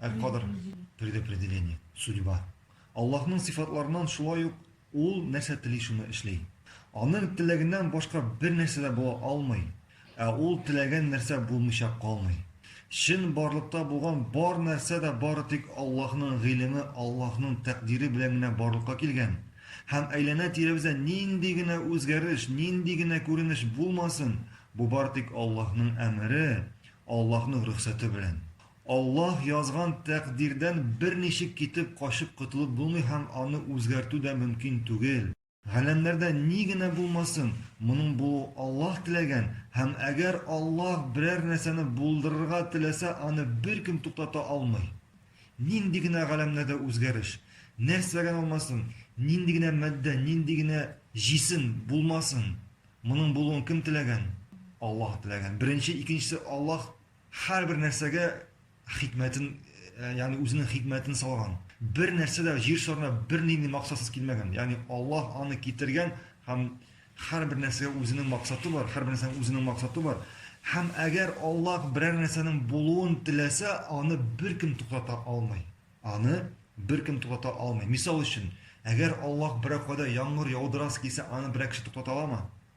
Әл-Кадр предопределение, судьба. Аллаһның сыйфатларыннан шулай ук ул нәрсә тели шуны эшли. Аның теләгеннән башка бер нәрсә дә була алмый, ә ул теләгән нәрсә булмыйча калмый. Чын барлыкта булган бар нәрсә дә бары тик Аллаһның гыйлеме, Аллаһның тәкъдире белән генә барлыкка килгән. Һәм әйләнә-тирәбездә нинди генә үзгәреш, нинди генә күренеш булмасын, бу бары тик Аллаһның әмере, Аллаһның рөхсәте белән. Аллаһ язган тәкъдирдән берничек китеп, качып котылып булмый һәм аны үзгәртү дә мөмкин түгел. Галәмнәрдә ни генә булмасын, моның булуы Аллаһ теләгән, һәм әгәр Аллаһ берәр нәрсәне булдырырга теләсә, аны беркем туктата алмый. Нинди генә галәмнәрдә үзгәреш, нәрсә генә булмасын, нинди генә матдә, нинди генә җисем булмасын, моның булуын кем теләгән? Аллаһ теләгән. Беренче, икенчесе Аллаһ Һәрбер нәрсәгә хикмәтен, э, ягъни үзенең хикмәтен салган. Бер нәрсә дә җир шарына бернинди максатсыз килмәгән. Ягъни Аллаһ аны китергән һәм һәрбер нәрсәгә үзенең максаты бар, һәрбер нәрсәнең үзенең максаты бар. Һәм әгәр Аллаһ берәр нәрсәнең булуын теләсә, аны беркем туктата алмый. Аны беркем туктата алмый. Мисал өчен, әгәр Аллаһ берәр кайда яңгыр яудырасы килсә, аны берәр кеше туктата аламы?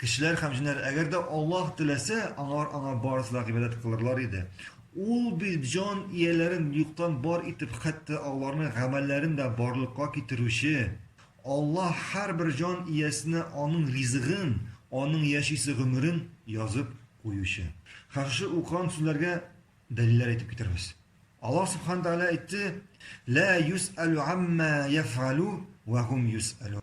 Кешеләр һәм җеннәр, әгәр дә Аллаһ теләсә, аңар аңа барысы да гыйбадәт кылырлар иде. Ул бит җан ияләрен юктан бар итеп, хәтта аларның гамәлләрен дә барлыкка китерүче. Аллаһ һәрбер җан иясенә аның ризыгын, аның яшисе гомерен язып куючы. Һәм шушы укыган сүзләргә дәлилләр әйтеп китерәбез. Аллаһ Сүбхәнә Тәгалә әйтте, Лә юсәлү гаммә яфгалү вә гум юсәлүн.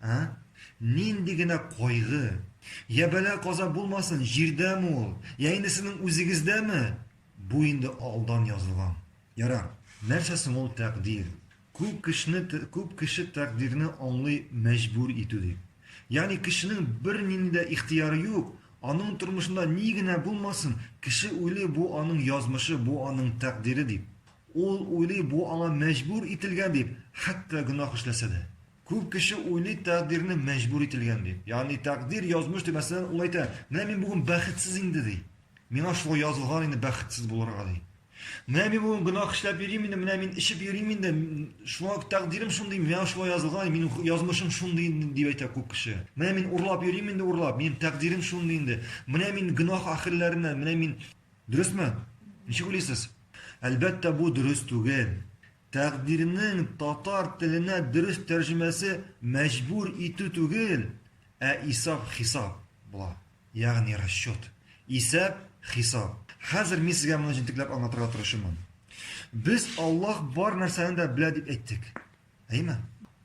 Ә? Нинди генә кайгы! Йә бәла-каза булмасын, җирдәме ул, йә инде сезнең үзегездәме? Бу инде алдан язылган. Ярар, нәрсә соң ул тәкъдир? Күп кешене, күп кеше тәкъдирне аңлый мәҗбүр итү дип. Ягъни кешенең бернинди дә ихтыяры юк, аның тормышында ни генә булмасын, кеше уйлый бу аның язмышы, бу аның тәкъдире дип. Ул уйлый бу аңа мәҗбүр ителгән дип, хәтта гөнаһ эшләсә дә. Күп кеше уйлый тәкъдирне мәҗбүр ителгән дип. Ягъни тәкъдир, язмыш дип, мәсәлән, ул әйтә, менә мин бүген бәхетсез инде, ди. Миңа шулай язылган инде бәхетсез булырга, ди. Менә мин бүген гөнаһ эшләп йөрим инде, менә мин эчеп йөрим инде, шуңа тәкъдирем шундый, миңа шулай язылган, минем язмышым шундый инде, дип әйтә күп кеше. Менә мин урлап йөрим инде, урлап, минем тәкъдирем шундый инде. Менә мин гөнаһ әһелләреннән, менә мин. Дөресме? Ничек уйлыйсыз? Әлбәттә, бу дөрес түгел. Тәкъдирнең татар теленә дөрес тәрҗемәсе мәҗбүр итү түгел, ә исап-хисап була, ягъни расчет. Исәп, хисап. Хәзер мин сезгә моны җентекләп аңлатырга тырышырмын. Без Аллаһ бар нәрсәне дә белә дип әйттек. Әйме?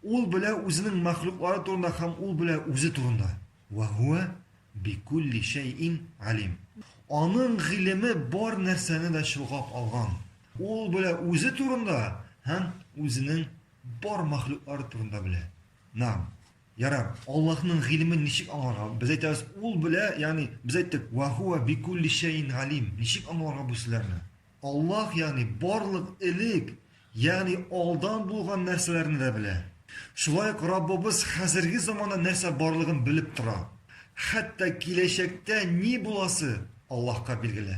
Ул белә үзенең мәхлуклары турында һәм ул белә үзе турында. Ва хуа бикулли шәйин алим. Аның гыйлеме бар нәрсәне дә чолгап алган. Ул белә үзе турында һәм үзенең бар мәхлуклары турында белә. Нәам. Ярар, Аллаһның гыйлемен ничек аңларга? Без әйтәбез, ул белә, ягъни без әйттек, ва хуа бикулли шәйин галим. Ничек аңларга бу сүзләрне? Аллаһ, ягъни барлык элек, ягъни алдан булган нәрсәләрне дә белә. Шулай ук Раббыбыз хәзерге заманда нәрсә барлыгын белеп тора. Хәтта киләчәктә ни буласы Аллаһка билгеле.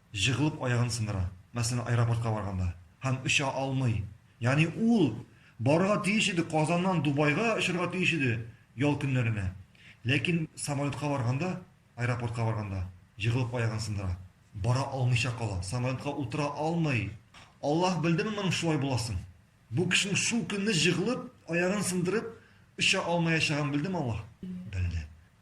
җыгылып аягын сындыра, мәсәлән, аэропортка барганда, һәм оча алмый. Ягъни ул барырга тиеш иде, Казаннан Дубайга очырга тиеш иде ял көннәренә, ләкин самолетка барганда, аэропортка барганда җыгылып аягын сындыра, бара алмыйча кала, самолетка утыра алмый. Аллаһ белдеме моның шулай буласын? Бу кешенең шул көнне җыгылып аягын сындырып оча алмаячагын белдеме Аллаһ? Белде.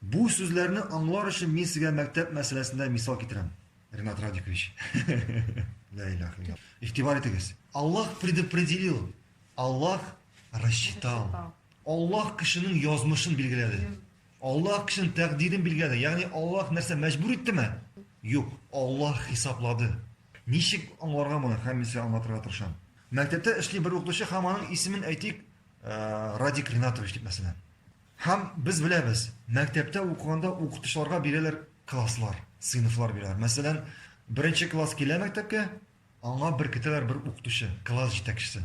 Бу сүзләрне аңлар өчен мин сезгә мәктәп мәсьәләсендә мисал китерәм, Ренат Радикович. Лә илаһ илля. Игътибар итегез. Аллаһ предопределил, Аллаһ рассчитал. Аллаһ кешенең язмышын билгеләде. Аллаһ кешенең тәкъдирен билгеләде. Ягъни Аллаһ нәрсә мәҗбүр иттеме? Юк, Аллаһ хисаплады. Ничек аңларга моны? Һәм мин сезгә аңлатырга тырышам. Мәктәптә эшли бер укытучы һәм аның исемен әйтик, Радик Ринатович дип мәсәлән. Һәм без беләбез, мәктәптә укыганда укытучыларга бирәләр класслар, сыйныфлар бирәләр. Мәсәлән, беренче класс килә мәктәпкә, аңа беркетәләр бер укытучы, класс җитәкчесе.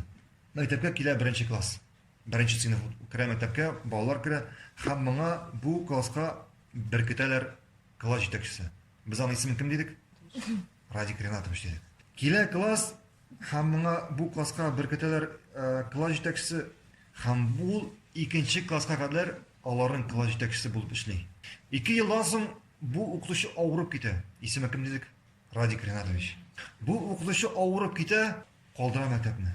Мәктәпкә килә беренче класс, беренче сыйныф керә мәктәпкә, балалар керә, һәм моңа бу класска беркетәләр класс җитәкчесе. Без аның исемен кем дидек? Радик Ринатович диде. Килә класс, һәм моңа бу класска беркетәләр э, класс җитәкчесе, һәм ул икенче класска кадәр аларның класс җитәкчесе булып эшли. Ике елдан соң бу укытучы авырып китә. Исеме кем дидек? Радик Ринатович. Бу укытучы авырып китә, калдыра мәктәпне.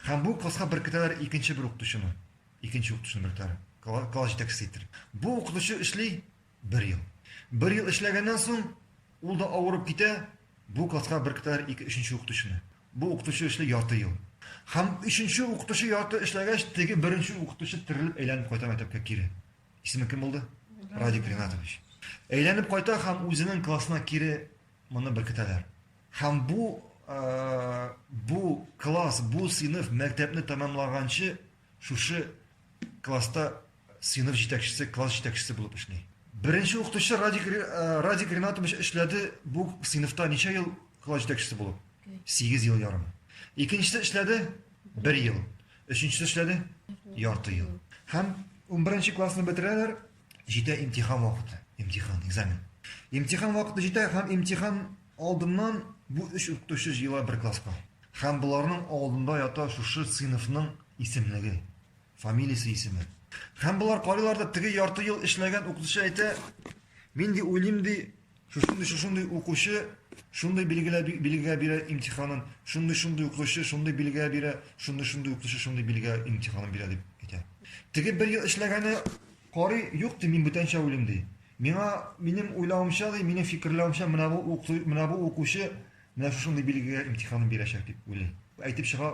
Һәм бу класска беркетәләр икенче бер укытучыны. Икенче укытучыны беркетәләр. Класс җитәкчесе иттереп. Бу укытучы эшли Бер ел. Бер ел эшләгәннән соң, ул да авырып китә, бу класска беркетәләр ике өченче укытучыны. Бу укытучы эшли ярты ел. Һәм өченче укытучы ярты эшләгәч, теге беренче укытучы терелеп әйләнеп кайта мәктәпкә кире. Исеме кем булды? Радик Ринатович. Әйләнеп кайта һәм үзенең классына кире моны беркетәләр. Һәм бу бу класс, бу сыйныф мәктәпне тәмамлаганчы шушы класста Сыйныф җитәкчесе, класс җитәкчесе булып эшли. Беренче укытучы Радик, Радик Ринатович эшләде бу сыйныфта ничә ел класс җитәкчесе булып? Сигез ел ярым. Икенчесе эшләде бер ел. Өченчесе эшләде ярты ел. Һәм унберенче классны бетерәләр, җитә имтихан вакыты, имтихан, экзамен. Имтихан вакыты җитә һәм имтихан алдыннан бу өч укытучы җыела бер класска. Һәм боларның алдында ята шушы сыйныфның исемлеге. Фамилиясе, исеме. Һәм болар карыйлар да, теге ярты ел эшләгән укытучы әйтә, мин ди уйлыйм ди, шушындый шушындый укучы шундый билгелә билгә бирә имтиханын, шундый шундый укучы шундый билгә бирә, шундый шундый укучы шундый билгә имтиханын бирә дип әйтә. Теге бер ел эшләгәне карый, юк ди, мин бүтәнчә уйлыйм ди. Миңа минем уйлавымча ди, минем фикерләвемчә менә бу укучы менә бу укучы менә шушындый билгегә имтиханын бирәчәк дип уйлый. Әйтеп чыга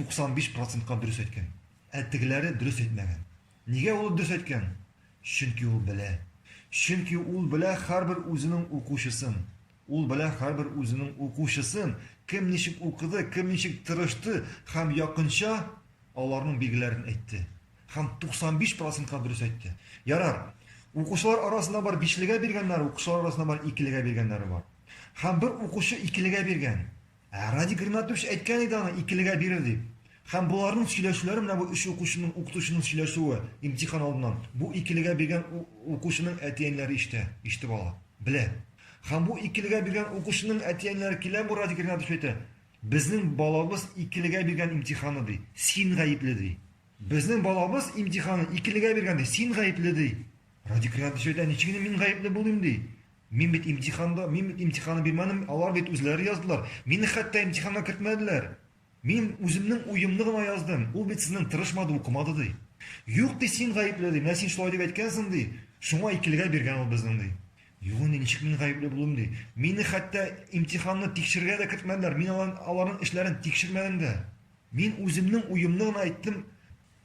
95 процентка дөрес әйткән. Ә тегеләре дөрес әйтмәгән. Нигә ул дөрес әйткән? Чөнки ул белә. Чөнки ул белә һәрбер үзенең укучысын. Ул белә һәрбер үзенең укучысын, кем ничек укыды, кем ничек тырышты һәм якынча аларның билгеләрен әйтте. Һәм 95 процентка дөрес әйтте. Ярар, укучылар арасында бар бишлегә биргәннәр, укучылар арасында бар икелегә биргәннәре бар. Һәм бер укучы икелегә биргән. Ә Радик Ринатович әйткән иде аны икелегә бирер дип. Һәм боларның сөйләшүләре менә бу өч укучының, укытучының сөйләшүе, имтихан алдыннан, бу икелегә биргән укучының әти-әниләре ишетә, ишетеп ала, белә. Һәм бу икелегә биргән укучының әти-әниләре килә бу Радик Ринатовичка әйтә, Безнең балабыз икелегә биргән имтиханны, ди, син гаепле, ди. Безнең балабыз имтиханны икелегә биргән, ди, син гаепле, ди. Радик Ринатович әйтә, Ничек инде мин гаепле булыйм, ди. Мин бит имтиханда, мин бит имтиханны бирмәдем, алар бит үзләре яздылар. Мине хәтта имтиханга кертмәделәр. Мин үземнең уемны гына яздым, ул бит сезнең тырышмады, укымады, ди. Юк, ди, син гаепле, ди, менә син шулай дип әйткәнсең, ди, шуңа икелегә биргән ул безнең, ди. Юк инде, ничек мин гаепле булыйм, ди. Мине хәтта имтиханны тикшергә дә кертмәделәр, мин аларның эшләрен тикшермәдем дә. Мин үземнең уемны гына әйттем,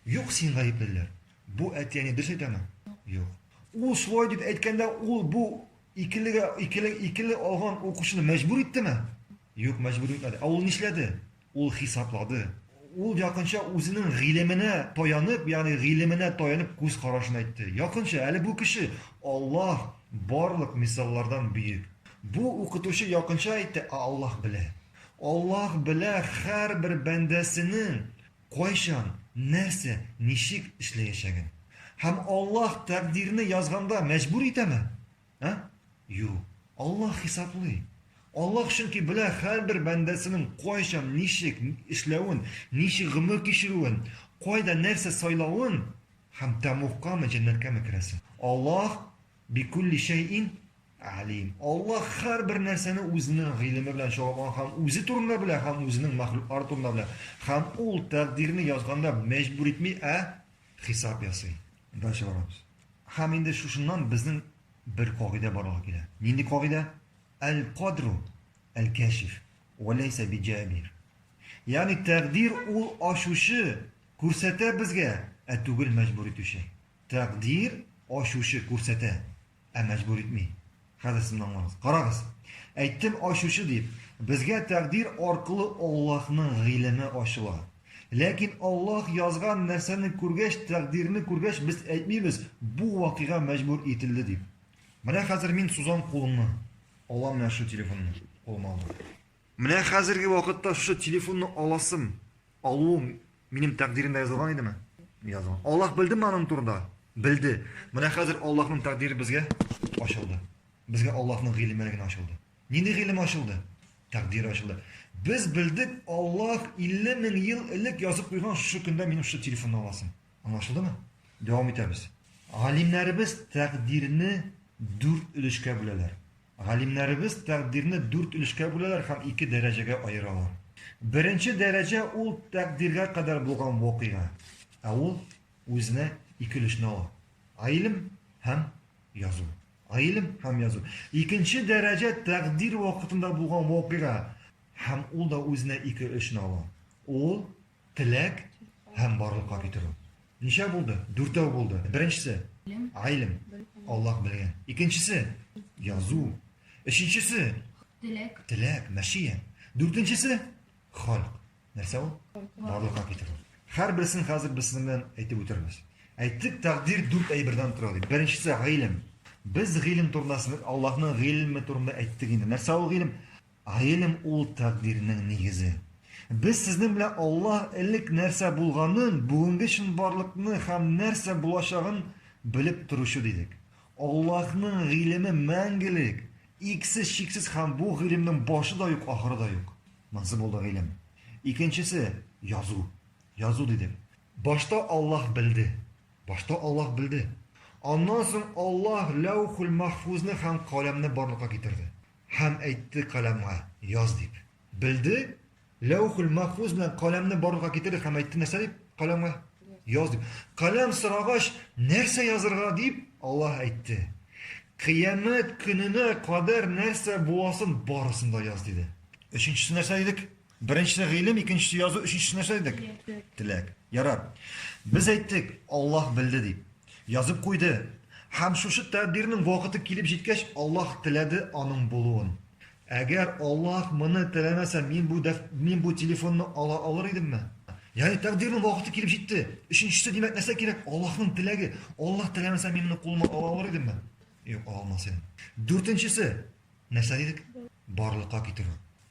юк, син гаепле, диләр. Бу әти-әни дөрес әйтәме? Юк. Ул шулай дип әйткәндә, ул бу икелегә икеле икеле алган укучыны мәҗбүр иттеме? Юк, мәҗбүр итмәде. Ә ул нишләде? Ул хисаплады. Ул якынча үзенең гыйлеменә таянып, ягъни гыйлеменә таянып күз карашын әйтте. Якынча, әле бу кеше Аллаһ барлык мисаллардан бөек. Бу укытучы якынча әйтте, ә Аллаһ белә. Аллаһ белә һәрбер бәндәсенең кайчан, нәрсә, ничек эшләячәген. Һәм Аллаһ тәкъдирне язганда мәҗбүр итәме? Ә? Юк. Аллаһ хисаплый. Аллаһ чөнки белә һәрбер бәндәсенең кайчан, ничек эшләвен, ничек гомер кичерүен, кайда нәрсә сайлавын һәм тәмугкамы, җәннәткәме керәсен. Аллаһ Бикулли шәйин алим. Аллаһ һәрбер нәрсәне үзенең гыйлеме белән чагылган һәм үзе турында белә һәм үзенең мәхлуклары турында белә. Һәм ул тәкъдирне язганда мәҗбүр итми, ә хисап ясый. Дальше барабыз. Һәм инде шушыннан безнең бер кагыйдә барлыкка килә. Нинди кагыйдә? Әл-кадру әл-кәшиф вә ләйсә биҗәбир. Ягъни тәкъдир ул ачучы, күрсәтә безгә, ә түгел мәҗбүр итүче. Тәкъдир ачучы күрсәтә, ә мәҗбүр итми. Хәзер сез моны аңлагыз. Карагыз. Әйттем ачучы дип. Безгә тәкъдир аркылы Аллаһның гыйлеме ачыла. Ләкин Аллаһ язган нәрсәне күргәч, тәкъдирне күргәч, без әйтмибез, бу вакыйга мәҗбүр ителде дип. Менә хәзер мин сузам кулымны, алам менә шул телефонны, кулыма алдым. Менә хәзерге вакытта шушы телефонны аласым, алуым минем тәкъдиремдә язылган идеме? Язылган. Аллаһ белдеме аның турында? Белде. Менә хәзер Аллаһның тәкъдире безгә ачылды. Безгә Аллаһның гыйлеме генә ачылды. Нинди гыйлем ачылды? Тәкъдир ачылды. Без белдек, Аллаһ 50 мең ел элек язып куйган шушы көндә минем шушы телефонны аласым. Аңлашылдымы? Дәвам итәбез. Галимнәребез тәкъдирне дүрт өлешкә бүләләр. Галимнәребез тәкъдирне дүрт өлешкә бүләләр һәм ике дәрәҗәгә аералар. Беренче дәрәҗә ул тәкъдиргә кадәр булган вакыйга, ә ул үзенә ике өлешне ала, гыйлем һәм язу. Гыйлем һәм язу. Икенче дәрәҗә тәкъдир вакытында булган вакыйга һәм ул да үзенә ике өлешне ала. Ул Теләк һәм барлыкка китерү. Ничә булды? Дүртәү булды. Беренчесе, гайлем, Аллаһ белгән. Икенчесе, язу. Өченчесе, теләк, теләк, мәшия. Дүртенчесе, халк. Нәрсә ул? Барлыкка китерү. Хәр берсен хәзер без сезнең белән әйтеп үтербез. Әйттек, тәкъдир дүрт әйбердән тора дип. Беренчесе, гайлем. Без гыйлем турында, Аллаһның гыйлеме турында әйттек инде. Нәрсә ул гыйлем? Гыйлем ул тәкъдирнең нигезе. Без сезнең белән Аллаһ элек нәрсә булганын, бүгенге чынбарлыкны һәм нәрсә булачагын белеп торучы дидек. Аллаһның гыйлеме мәңгелек, иксез, чиксез һәм бу гыйлемнең башы да юк, ахыры да юк. Монсы булды гыйлем. Икенчесе, язу. Язу дидек. Башта Аллаһ белде. Башта Аллаһ белде. Аннан соң Аллаһ Ләүхүл-Мәхфүзне һәм Каләмне барлыкка китерде. Һәм әйтте каләмгә, Яз дип. Белде, Ләүхүл-Мәхфүз белән каләмне барлыкка китерде һәм әйтте нәрсә дип каләмгә? Яз дип. Каләм сорагач, нәрсә язырга дип Аллаһ әйтте. Кыямәт көненә кадәр нәрсә буласын барысын да яз диде. Өченчесе нәрсә дидек? Беренчесе гыйлем, икенчесе язу, өченчесе нәрсә дидек? Теләк. Ярар. Без әйттек, Аллаһ белде дип. Язып куйды. Һәм шушы тәкъдирнең вакыты килеп җиткәч, Аллаһ теләде аның булуын. Әгәр Аллаһ моны теләмәсә, мин бу дәф... мин бу телефонны ала алыр идемме? Ягъни тәкъдирнең вакыты килеп җитте. Өченчесе димәк нәрсә кирәк? Аллаһның теләге. Аллаһ теләмәсә, мин моны кулыма ала алыр идемме? Юк, ала алмас идем. Дүртенчесе нәрсә дидек? Барлыкка китерү.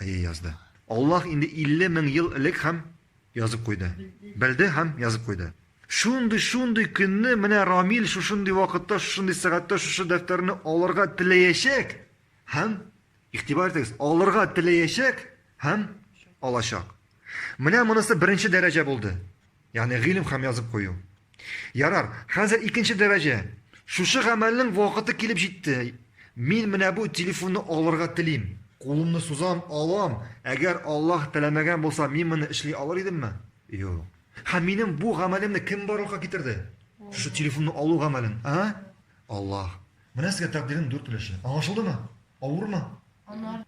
Әйе, язды. Аллаһ инде 50 мең ел элек һәм язып куйды. Белде һәм язып куйды. Шундый, шундый көнне менә Рамил шушындый вакытта, шушындый сәгатьтә шушы дәфтәрне алырга теләячәк һәм игътибар итегез, алырга теләячәк һәм алачак. Менә монысы беренче дәрәҗә булды. Ягъни гыйлем һәм язып кую. Ярар, хәзер икенче дәрәҗә. Шушы гамәлнең вакыты килеп җитте. Мин менә бу телефонны алырга телим. Кулымны сузам, алам. Әгәр Аллаһ теләмәгән булса, мин моны эшли алыр идемме? Юк. Һәм минем бу гамәлемне кем барлыкка китерде? Шушы телефонны алу гамәлен, а? Аллаһ. Менә сезгә тәкъдирнең дүрт өлеше. Аңлашылдымы? Авырмы?